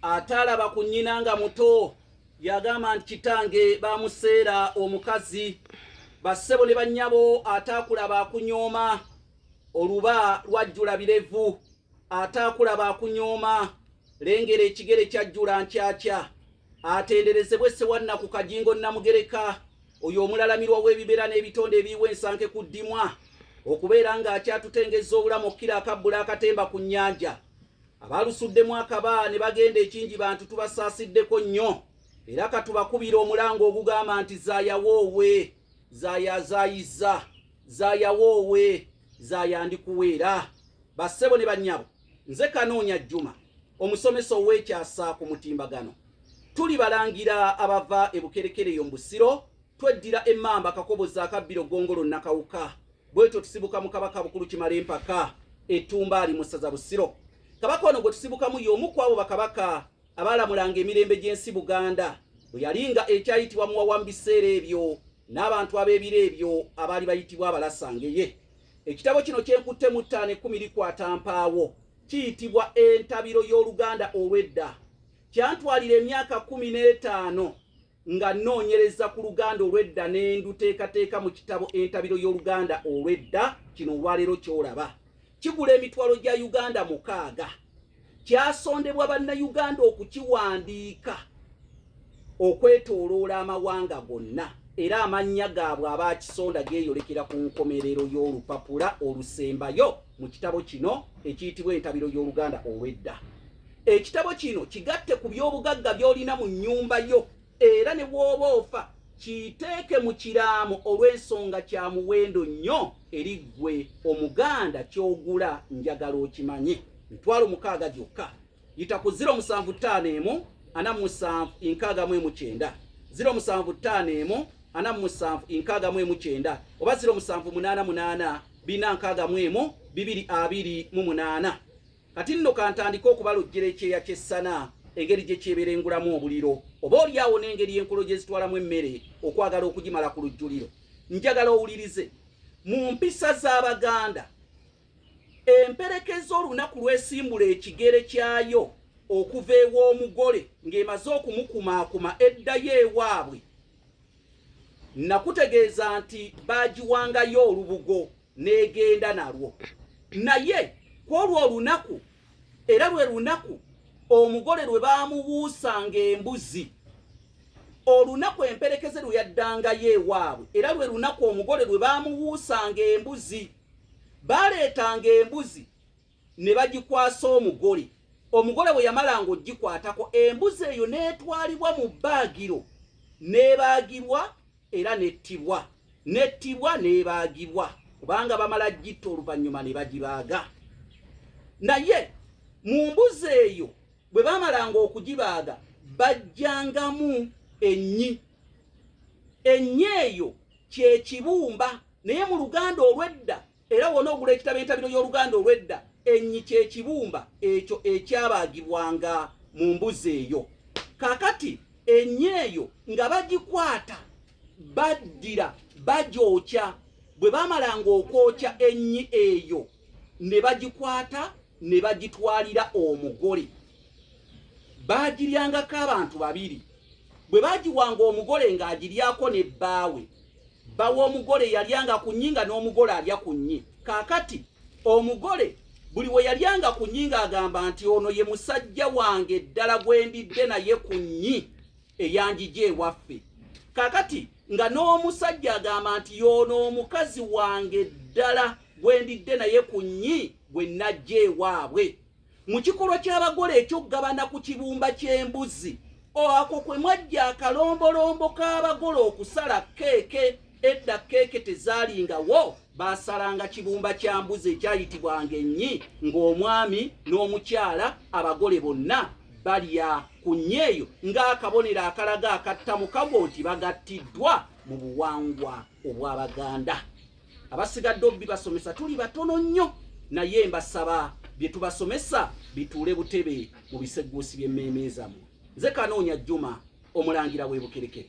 ataalaba ku nnyina nga muto yagamba nti kitange bamuseera omukazi bassebo ne bannyabo ataakulaba akunyooma oluba lwajjula birevu ataakulaba akunyooma lengera ekigere kyajjula nkyakya atenderezebwe sewanna ku kajingo namugereka oyo omulalamirwa w'ebibera n'ebitonde ebiiwa ensanke ku ddimwa okubeera ng'akyatutengeza obulamu okkira akabbula akatemba ku nnyanja abaalusuddemu akaba ne bagenda ekingi bantu tubasaasiddeko nnyo era katubakubira omulango ogugamba nti zaayawoowe zaayazaayizza zaayawoowe zaayandikuweera bassebo ne bannyabo nze kanoonya jjuma omusomesa ow'ekyasa ku mutimbagano tuli balangira abava e bukerekereyo mu busiro tweddira emmamba kakobozi akabbiro gongolo nakawuka bwetyo tusibuka mu kabaka bukulu kimala empaka etumba ali mu ssaza busiro kabaka ono gwe tusibukamu y'omu ku abo bakabaka abaalamulanga emirembe gy'ensi buganda bwe yali nga ekyayitibwa muwawa mu biseera ebyo n'abantu ab'ebiro ebyo abaali bayitibwa abalasangeye ekitabo kino kyenkutte mu ttaano ekkumi likwata mpaawo kiyitibwa entabiro y'oluganda olw'edda kyantwalira emyaka kumi n'etaano nga nnoonyereza ku luganda olw'edda ne nduteekateeka mu kitabo entabiro y'oluganda olw'edda kino olwaleero ky'olaba kigula emitwalo gya uganda mukaaga kyasondebwa bannayuganda okukiwandiika okwetooloola amawanga gonna era amannya gaabwe abaakisonda geeyolekera ku nkomerero y'olupapula olusembayo mu kitabo kino ekiyitibwa entabiro y'oluganda olw'edda ekitabo kino kigatte ku by'obugagga by'olina mu nnyumba yo era ne bw'oba ofa kiyiteeke mu kiraamo olw'ensonga kya muwendo nnyo eri ggwe omuganda ky'ogula njagala okimanye mitwalo mukaaga gyokka yita ku 0 musanvu ttaano emu ana musanvu enkaaga mu emu kyenda 0 musanvu ttaano emu ana musanvu enkaaga mu emu kyenda oba 0 musanvu munaana munaana bina nkaaga mu emu bibiri abiri mu munaana kati nno kantandike okubalojjera ekyeya ky'essana engeri gye kyeberengulamu obuliro oba oli awo n'engeri enkolo gye zitwalamu emmere okwagala okugimala ku lujjuliro njagala owulirize mu mpisa z'abaganda emperekeza olunaku lwesimbula ekigere kyayo okuva ew'omugole ng'emaze okumukumaakuma eddayo ewaabwe nakutegeeza nti baagiwangayo olubugo n'egenda nalwo naye ku olwo olunaku era lwe lunaku omugole lwe baamubuusanga embuzi olunaku emperekeze lwe yaddangayo ewaabwe era lwe lunaku omugole lwe baamubuusanga embuzi baaleetanga embuzi ne bagikwasa omugole omugole bwe yamalanga ogikwatako embuzi eyo n'etwalibwa mu bbaagiro n'ebaagibwa era n'ettibwa n'ettibwa n'ebaagibwa kubanga bamala gitta oluvannyuma ne bagibaaga naye mu mbuzi eyo bwe bamalanga okugibaaga bajjangamu ennyi ennyi eyo kyekibumba naye mu luganda olwedda Era wona ogula ekitabo entabiro y'oluganda olw'edda ennyi kye kibumba ekyo ekyabaagibwanga mu mbuzi eyo. Kakati ennyi eyo nga bagikwata baddira bagyokya bwe baamalanga okwokya ennyi eyo ne bagikwata ne bagitwalira omugole baagiryangako abantu babiri bwe baagiwanga omugole ng'agiryako ne bbaawe bawa omugole yalyanga ku nnyinga n'omugole alya ku nnyi kaakati omugole buli we yalyanga ku nnyinga agamba nti ono ye musajja wange ddala gwe ndidde naye ku nnyi eyanjija ewaffe kaakati nga n'omusajja agamba nti yoono omukazi wange ddala gwe ndidde naye ku nnyi gwe najja ewaabwe mu kikolwa ky'abagole ekyokugabana ku kibumba ky'embuzi oako kwe mwajja akalombolombo k'abagole okusala keeke edda keeke tezaalingawo baasalanga kibumba kya mbuzi ekyayitibwanga ennyi ng'omwami n'omukyala abagole bonna balya ku nnyeeyo ng'akabonero akalaga akattamukago nti bagattiddwa mu buwangwa obw'abaganda abasigadde obibasomesa tuli batono nnyo naye mbasaba bye tubasomesa bituule butebe mu biseguusi by'emmeeme zammwe nze kanoonya jjuma omulangira w'ebukerekere